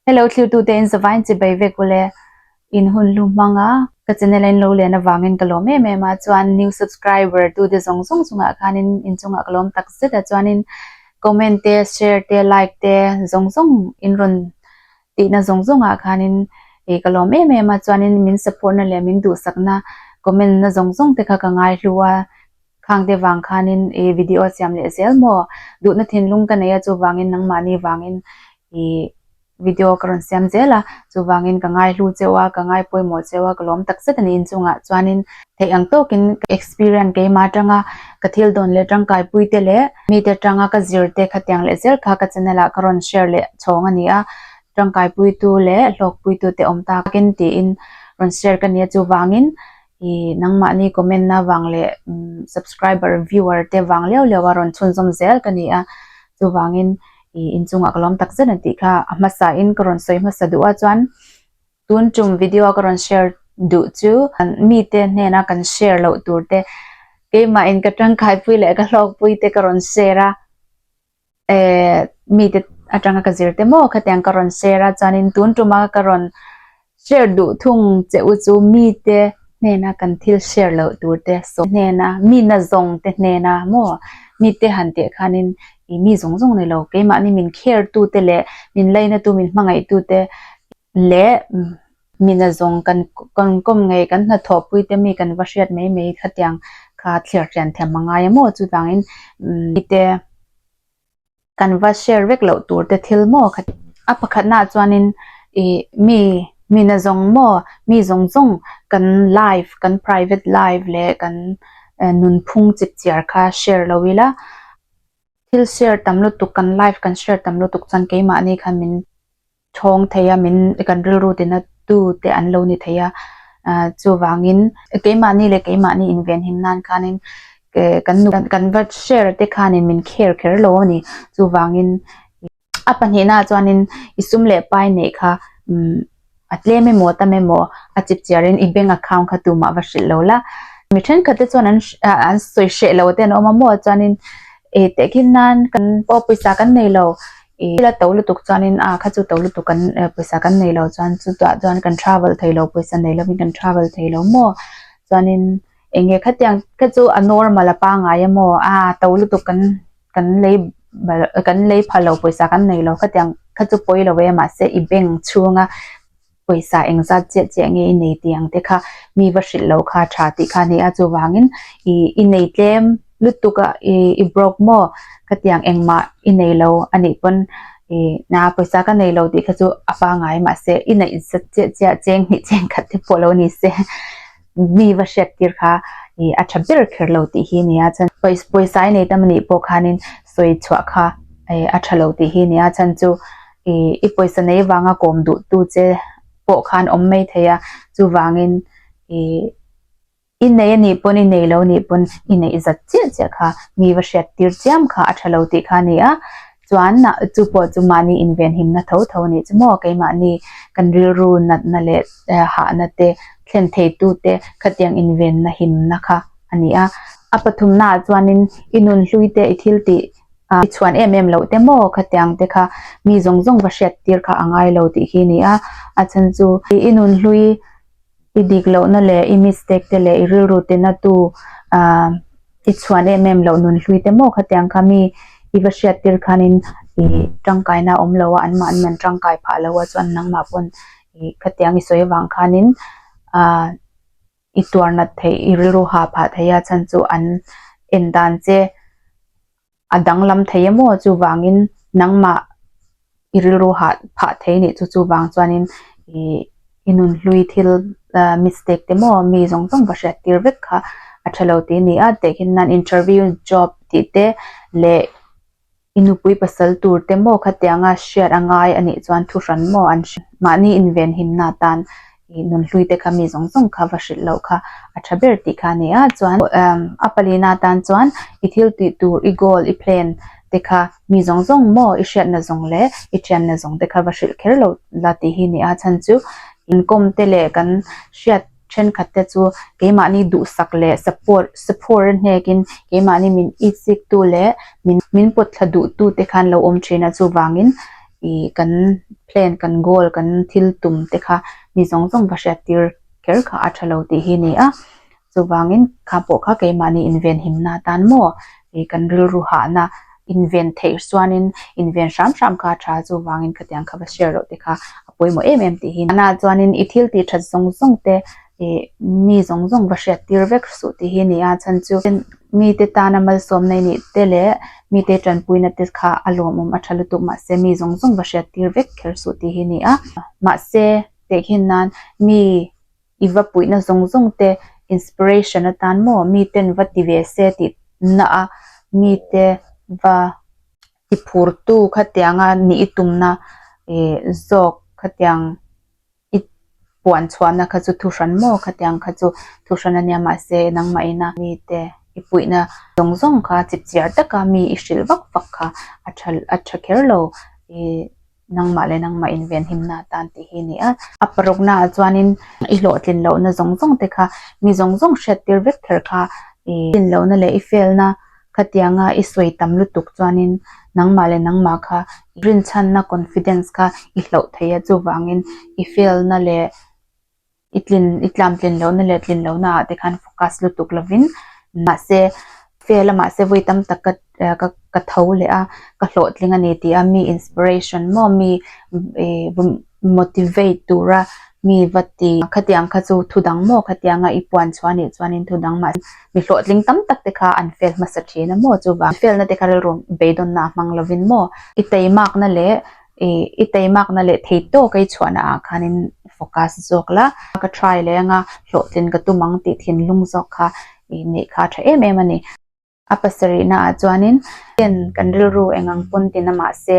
He lo thlirtute in zavai in chi bai vek u le, in hun hlu hmang a, ka channel a in lo len avangin ka lawm em em a, chuan new subscriber tu te zawng zawng chungah khanin in chungah ka lawm tak zet a, chuanin comment te, share te, like te zawng zawng in rawn tihna zawng zawng ah khanin ih ka lawm em em a, chuanin min support na leh min duhsakna comment na zawng zawng te kha ka ngai hlu a, Khangte vang khanin i video a siam leh zel maw? Duhna thinlung ka nei a, chuvangin nangmahni vangin i video ka rawn siam zel a, chuvangin ka ngaihlu cheu a, ka ngai pawimawh cheu a, ka lawm takzet a ni. Inchungah chuanin theih ang tawkin ka experience keima atanga ka thil dawn leh tangkaipuite leh mite atanga ka zirte khatiang leh zel kha ka channel ah ka rawn share leh chhawng a ni a, tangkaipuitu leh hlawkpuitute awm takin tiin rawn share ka ni a, chuvangin I nangmahni comment na vang leh subscriber viewer te vang leuh leuh a rawn chhunzawm zel ka ni a, chuvangin i inchungah ka lawm takzet a tih kha a hmasa in ka rawn sawi hmasa duh a chuan tun tum video a ka rawn share duh chu mite hnena kan share loh tur te keimah in ka tangkaipui leh ka hlawkpui te ka rawn share a. Eh, mite atanga ka zir te maw? Khatiang ka rawn share a, chuanin tun tuma ka rawn share duh thung che u chu mite hnena kan thil share loh tur te sawm hnena, mina zawng te hnena maw? Mite han teh khanin i mi zawng zawng nei lo, keimahni min care tute leh min lainatu, min hmangaihtu te, leh mina zawng kan kan kawm ngei kan hnathawh pui te mi kan va hriat mai mai khatiang kha thlir thian thiam a ngai a maw chutangin mite kan va share vek loh tur te thil maw kha a pakhatnaah chuanin ih mi mina zawng maw mi zawng zawng kan life kan private life leh kan nunphung chip chiar kha share lo ila thil share tam lutuk kan life kan share tam lutuk chuan keimahni kha min thawng thei a min kan rilru tina tu te an lo ni thei a ah chuvangin keimahni leh keimahni invenhim nan khanin eh kan nu kan va share te khanin min kher kher lo a ni chuvangin a pahnihna ah chuanin i sum leh pai neih kha umm a tlem emaw a tam emaw a chip chiar in i bank account kha tumah va hrilh lo la mi thenkhat te chuan an ah an sawi hreh lo te an awm a maw chuanin eh tehkhin nan kan pawh pawisa kan nei lo. I thil a to lutuk chuanin a kha chu to lutuk kan eh pawisa kan nei lo chuan chutah chuan kan travel thei lo pawisa nei lovin kan travel thei lo maw chuanin eng nge khatiang kha chu a normal a pangai emaw a to lutuk kan kan lei bal kan lei pha lo pawisa kan nei lo khatiang kha chu pawi lo e mahse i bank chhunga pawisa engzat chiah chiah nge i nei tih ang te kha mi va hrilh loh kha tha tih kha a ni a, chuvangin i nei tlem lutuk a, i broke maw ka ti ang engmah i nei lo a nih pawn na pawisa ka nei lo tih kha chu a pangai mahse i neih zat chiah chiah cheng hnih cheng khat te pawh lo ni se. mi va hriat tir kha ih a tha ber kher lo tih hi a ni a, chuan pawisa i nei ta mani pawh khanin sawi chhuah kha ih a tha lo tih hi a ni a, chhan chu ih i pawisa nei vanga kawm duh tu che pawh khan awm mai thei a, chuvangin ih i nei a nih pawn i nei lo nih pawn i neih zat chiah chiah kha mi va hriat tir chiam kha a tha lo tih kha a ni a. Chuan, Nâ, chu pawh chu mahni invenhimna tho tho a nih chu maw? Keimahni kan rilru natna leh hahna te, thlen theitu te khatiang invenna himna kha a ni a. A pathumnaah chuanin, i nun hlui te, i thil tih i chhuan em em loh te maw khatiang te kha mi zawng zawng va hriat tir kha a ngai lo tih hi a ni a. A then chu, i nun hlui. I dik lohna leh i mistake te leh i rilru tina tu ah i chhuan em em loh nun hlui te maw kha tiang kha mi i va hriat tir khanin ih tangkaina awm lo a an mah an man tangkai phah lo a chuan nangmah pawn ih khatiang i sawi vang khanin ah i tuar nat theih i rilru ha phah theih a chhan chu an en dan che a danglam thei emaw chuvangin nangmah i rilru hah phah thei nih chu chuvang chuanin ih i nun hlui thil ah mistake te maw mi zawng zawng ka hriat tir vek kha a ṭha lo ti a ni a tehkhin nan interview job tih te leh i nupui pasal tur te maw khatianga hriat a ngai anih chuan thu hran maw an hre mahni invenhimna atan. I nun hlui te kha mi zawng zawng kha va hrilh loh kha a tha ber tih kha a ni a, chuan a pali na atan chuan i thil tih tur i goal i plan te kha mi zawng zawng maw i hriat na zawng leh i thian na zawng te kha va hrilh kher loh la tih hi a ni a, chhan chu inkawm te leh kan hriat thenkhat te chu keimahni duhsak leh support support a hnek in keimahni min isik tu leh min pawt thla duh tu te khan lo awm thin a chuvang in. ih kan plan kan goal kan thil tum te kha mi zawng zawng ka hriat tir kher kha a tha lo tih hi ni a, chuvangin kha pawh kha keimahni invenhimna atan maw ih kan rilru hahna inven theih suanin inven hram hram kha a tha a chuvangin khatiang kha va share loh te kha a pawimawh em em tih hi ni a. Tunah chuanin i thil tihthat zawng zawng te Ih mi zawng zawng va hriat tir vek suh tih hi a ni a, chhan chu mite tana malsawmna inih te leh mite tanpuina te kha a lawmawm a tha lutuk mah se mi zawng zawng va hriat tir vek kher suh tih hi a ni a. Mahse, tehkhin nan mi i va puihna zawng zawng te inspiration atan maw miten va ti ve se tih na a mite va ti phurtu khatianga ni i tumna ih zawk khatiang I puan chhuahna kha chu thu hran maw khati ang kha chu thu hran a nia mahse nangmahina mite i puihna zawng zawng kha chip chiar taka mi i hrilh vak vak kha a tha a tha kher lo i nangmah leh nangmah invenhimna atan tih hi a ni a. A parukna ah chuanin i hlawhtlin lohna zawng zawng te kha mi zawng zawng hriattir vek kher kha i hlawhtlin lohna leh i felna. Khatianga i sawi tam lutuk chuanin nangmah leh nangmah kha i rinchhanna, confidence, kha i hlauh thei a, chuvangin i failna leh i tlin i tlamtlin lohna leh tlin lohna ah te khan focus lutuk lovin mahse fail a mahse vawi tam tak ka ka ka tho leh a, ka hlawhtling a ni tih a mi inspiration maw mi i vawm motivate tura mi va ti khatiang kha chu thu dang maw khatianga i puan chhuah a nih chuanin thu dang mah mi hlawhtling tam tak te kha an fel hmasa thin a maw chuvang felna te kha rilru beidawna a hmang lovin maw i tei makna leh i tei makna leh thei tawk ei chhuahna ah khanin focus zawk la ka try leh anga hlawhtlin ka tum ang tih thinlung zawk kha i neih kha a tha em em a ni. A pasarihnaah chuanin ken kan rilru eng ang pawn tina mahse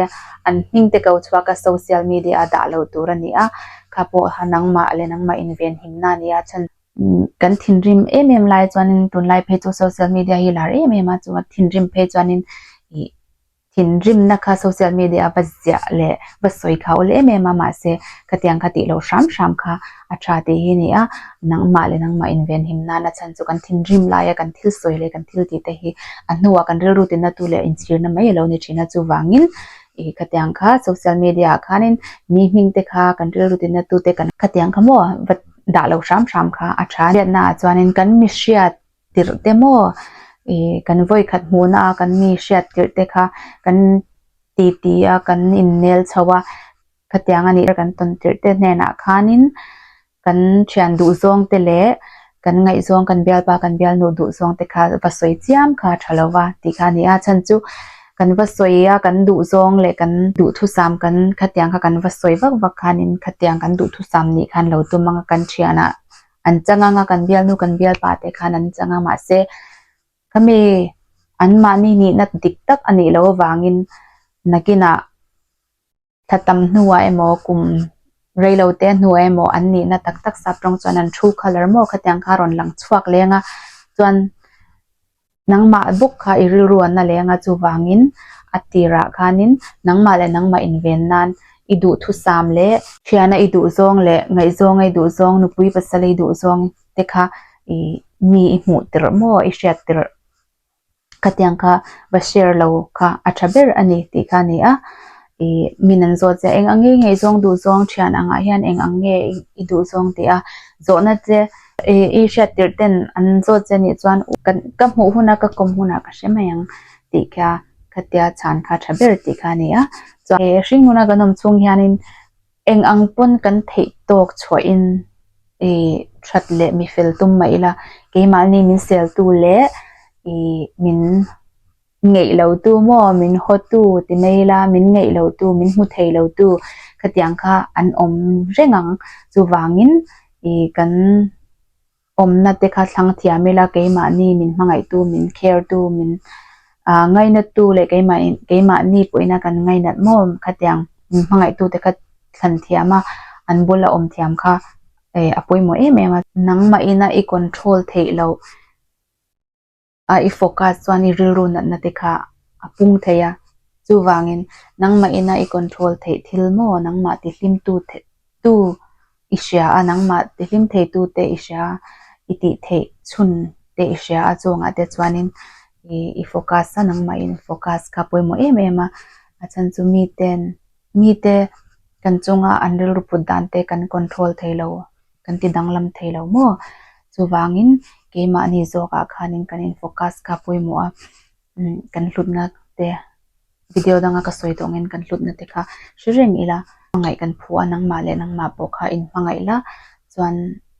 an hming te ko chhuak a social media ah dah loh tur a ni a, kha pawh ha nangmah leh nangmah invenhimna a ni a, chhan kan thinrim em em lai chuanin tunlai phei chu social media hi lar em em a, chua thinrim phei chuanin ih Thinrimna kha social media a va ziah leh va sawi kha awl em em a, mahse ka tiang ka tih loh hram hram kha a tha tih hi a ni a, nangmah leh nangmah invenhim nana chhan chu kan thinrim laia kan thil sawi leh kan thil tihte hi a hnuah kan rilru tinna tu leh inchhirna mai a lo ni thin a, chuvangin ih ka tiang kha social media ah khanin mi hming te kha kan rilru tinna tute kan. Ka tiang kha maw va dah loh hram hram kha a tha a, hriatna ah chuanin kan mihriat tirh te maw ih kan vawi khat hmuh na a kan mi hriat tirh te kha kan ti ti a kan in nel chho a khatiang a nih kan tawn tirh te hnen ah khan in kan thian duh zawng te leh kan ngaih zawng kan bial pa kan bial nu duh zawng te kha va sawi chiam kha a tha lo va tih kha a ni a chhan chu kan va sawi a kan duh zawng leh kan duh thu sam kan khatiang kha kan va sawi vak vak khan in khatiang kan duh thu sam nih khan lo tum ang a kan thian ah An chang ang a, kan bialnu kan bialpa te khan an chang a, mahse khami anmahni nihna dik tak a nih loh avangin nakinah thla tam hnuah emaw, kum rei lo te hnuah emaw an nihna tak tak sap tawng chuan an thu kha lar maw khatiang kha a rawn lang chhuak leng a, chuan Nangmah bawk kha i rilru an la leng a, chuvangin a tirah khanin nangmah leh nangmah inven nan i duhthusam leh. Thiana i duhzawng leh ngaihzawnga i duhzawng, nupui pasal i duhzawng te kha i mi i hmuh tirh maw, i hriat tirh khatiang kha va share lo kha a tha ber a ni tih kha a ni a. Ih min an zawt zia eng a ngei ngei zawng duh zawng thian angah hian eng ang nge i duh zawng tih a zawhna che i hriat tirh ten an zawt zia nih chuan kan ka hmuh hun a ka kawm hunah ka hre mai ang tih kha ka tia chhan kha tha ber tih kha a ni a chuan ih hring nuna kan awm chhung hianin eng ang pawn kan theih tawk chhuah in ih that leh mi fel tum mah ila keimahni min sel tu leh ih min Ngeih lo tu maw, min haw tu ti mai la, min ngeih lo tu, min hmu thei lo tu khatiang kha an awm reng ang. Chuvangin ih kan awmna te kha thlang thiam ila, keimahni min hmangaih tu, min care tu, min ah ngainat tu leh keimah in keimahni pawhin kan ngainat maw khatiang min hmangaih tu te kha thlan thiam a, an bula awm thiam kha a pawimawh em em a. Nangmahina i control theih loh. A i fawka chuan i rilru natna te kha a pung thei a, chuvangin nangmah ina i control theih thil maw nangmah tihlim tu tu i hria a, nangmah tihlim thei tu te i hria a, i tih theih chhun te i hria a chuangah te chuanin i i focus a nangmah in focus kha pawimawh em em a, a chhan chu miten mite kan chunga an rilru put dan te kan control thei lo kan ti danglam thei lo maw? Chuvangin keimahni zawkah khanin kan in focus ka pawimawh a, kan hlutna te video danga ka sawi tawh angin kan hlutna te kha hre reng ila hmangaih kan phu a, nangmah leh nangmah pawh kha in hmangaih la chuan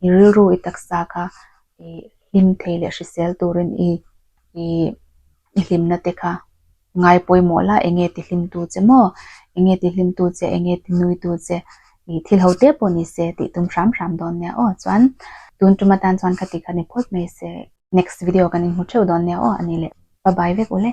i rilru i taksa kha i hlim thei leh hrisel turin i i. I hlimna te kha ngai pawimawh la, enge tihlimtu che maw, enge tihlimtu che, enge tinuitu che, ih thil ho te pawh ni se tih tum hram hram dawn nia aw. Chuan tun tum atan chuan khati kha ni phawt mai se. Next video kan inhmu theuh dawn nia aw ani le. Pabai vek u le.